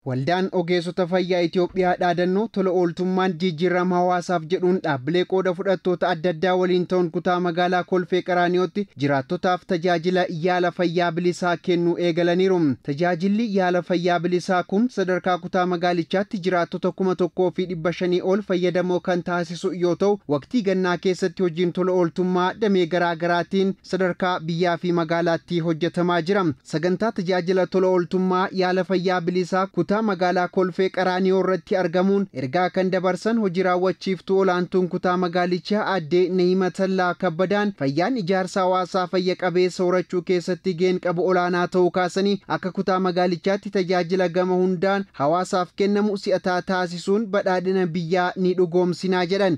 Waldaan Ogeessota Fayyaa Itoophiyaa dhaadannoo tola ooltummaan jijjiirrama hawaasaaf jedhuun dhaabbilee qooda fudhattoota adda addaa waliin ta'uun kutaa magaalaa Kolfee Qaraaniyootti jiraattotaaf tajaajila yaala fayyaa bilisaa kennuu eegalaniiru. Tajaajilli yaala fayyaa bilisaa kun sadarkaa kutaa magaalichaatti jiraattota kuma tokkoo fi dhibba shanii ol fayyadamoo kan taasisu yoo ta'u, waqtii gannaa keessatti hojiin tola ooltummaa damee garaa garaatiin sadarkaa biyyaa fi magaalaatti hojjetamaa jira. Sagantaa tajaajila tola ooltummaa yaala fayyaa bilisaa kutaa magaalaa Kolfee Qaraaniyoo irratti argamuun ergaa kan dabarsan hojii raawwachiiftuu olaantuun kutaa magaalichaa aadde Nahimatallaa Kabbadaan fayyaan ijaarsa hawaasaa fayya qabeessa horachuu keessatti gaheen qabu olaanaa ta'uu kaasanii akka kutaa magaalichaatti tajaajila gama hundaan hawaasaaf kennamu si'ataa taasisuun badhaadhina biyyaa ni dhugoomsinaa jedhan.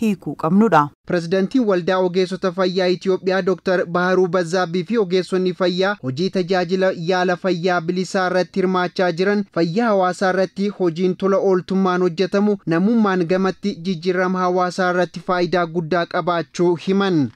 hiikuu qabnudha. Pirezidantiin Waldaa Ogeessota Fayyaa Itiyoophiyaa Doktar Baharuu Bazzaabbii fi ogeessonni fayyaa hojii tajaajila yaala fayyaa bilisaa irratti hirmaachaa jiran fayyaa hawaasaa irratti hojiin tola ooltummaan hojjetamu namummaan gamatti jijjiirrama hawaasaa irratti faayidaa guddaa qabaachuu himan.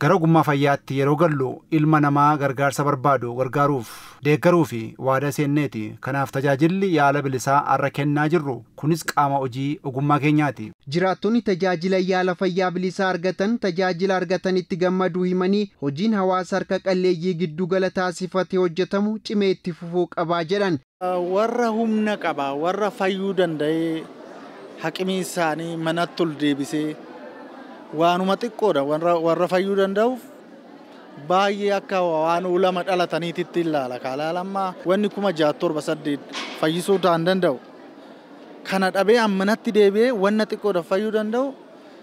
Gara ogummaa fayyaatti yeroo gallu ilma namaa gargaarsa barbaadu gargaaruuf, deeggaruu fi waadaa seenneeti. Kanaaf tajaajilli yaala bilisaa har'a kennaa jirru kunis qaama hojii ogummaa keenyaati. Jiraattonni tajaajila yaala fayyaa bilisaa argatan tajaajila argatanitti gammaduu himanii, hojiin hawaasa harka qalleeyyii giddu gala taasifate hojjetamu cimee itti fufuu qaba jedhan. Warra humna qaba, warra fayyuu danda'ee haqimii isaanii manatti ol deebisee waanuma xiqqoodha warra, warra fayyuu danda'uuf baay'ee akka waan ulama dhalataniititti ilaala kaalaal amma wanni kuma ja'a torba saddeet fayyisuu ta'an danda'u kana dhabee ammanatti deebi'ee wanna xiqqoodha fayyuu danda'u